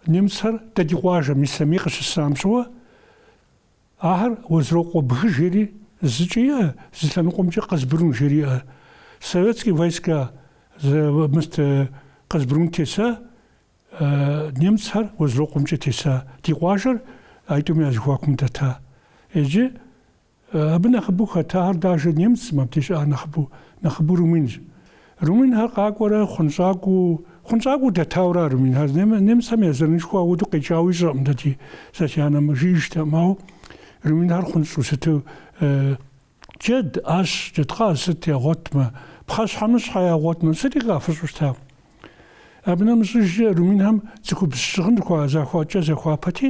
Немцхэр дэ ди къуажэм Ислъэмий къыщысам щыгъуэ ахэр Уэзрокъуэ бгы жери зыкӏи иӏэ, зы лъэныкъуэмкӏи Къэзбрун жери иӏэ. Советские войска зы мыст Къэзбрун теса, немцхэр Уэзрокъуэмкӏэ теса. Ди къуажэр а итӏум я зыхуакум дэта. Иджы Абы нэхъыбэу хэтахэр даже немцым, абдеж щыӏахэр нэхъыбэу, нэхъыбэу румынщ. Румынхэр къакӏуэрэ хъунщӏакӏуэу, хъунщӏакӏуэу дэтауэра румынхэр? Нем- Немцхэм я зэранышхуэ апхуэду къикӏауэ ищӏэкъым дэ ди сэ си анэм, жиӏэжтэкъым. Ауэ румынхэр хъунщӏу сыту, джэд, ӏэщ, джэдкъаз сыт ягъуэтмэ, пхъэщхьэмыщхьэ ягъуэтмэ, сыти къафыщӏу щыта. Абы нэмыщӏыжкӏэ румынхэм цӏыхубз щыгъын хуа- захуа-кӏэ захуапэти,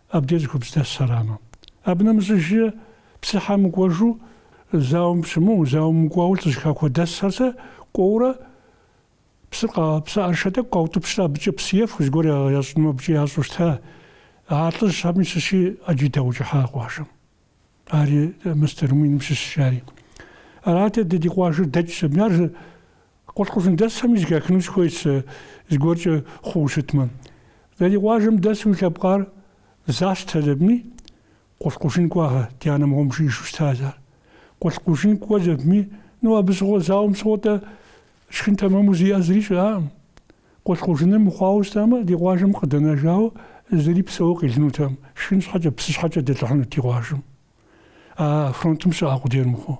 Абдеж цӏыхубз дэс арамэ. Абы нэмыщӏыжи псыхьэм кӏуэжу, зауэм щымыӏэу, зауэ мыкӏуауэ лӏыжьхэу дэсхэр сэ кӏуэурэ псыр къа, псы ӏэрышэ тӏэкӏу къаутӏыпщрэ абыкӏэ псы ефэхэу зыгуэр ящӏынумэ абыкӏэ ящӏу щыта. А лӏыжьхэми щыщи ӏэджи даукӏыхьа къуажэм. Ари мыстэрым военнэм щыщ жари. Арат дэ ди къуажэр дэкӏ сэ. Ар Къулъкъужын дэсхэми зыхахыну сыхуейт сэ зыгуэркӏэ хъуу щытмэ. Дэ ди къуажэм дэсу уи лъэпкъар застэ зэпми, Къулъкъужын кӏуагъэ, ди анэ мыгъуэм жиӏэжу щытащ ар. Къулъкъужын кӏуэ зэпми, ну абы щыгъуэ зауэм щыгъуэ-тӏэ, Шхын тэмэму зиӏэ зыри щыӏэкъым. Къулъкъужыныр мыхъуауэ щытамэ, ди къуажэм къыдэнэжауэ зыри псэууэ къелынутэкъым, шхын щхьэкӏэ, псы щхьэкӏэ дэлӏыхьынут ди къуажэм, а фронтым щыӏэ къудейр мыхъуу.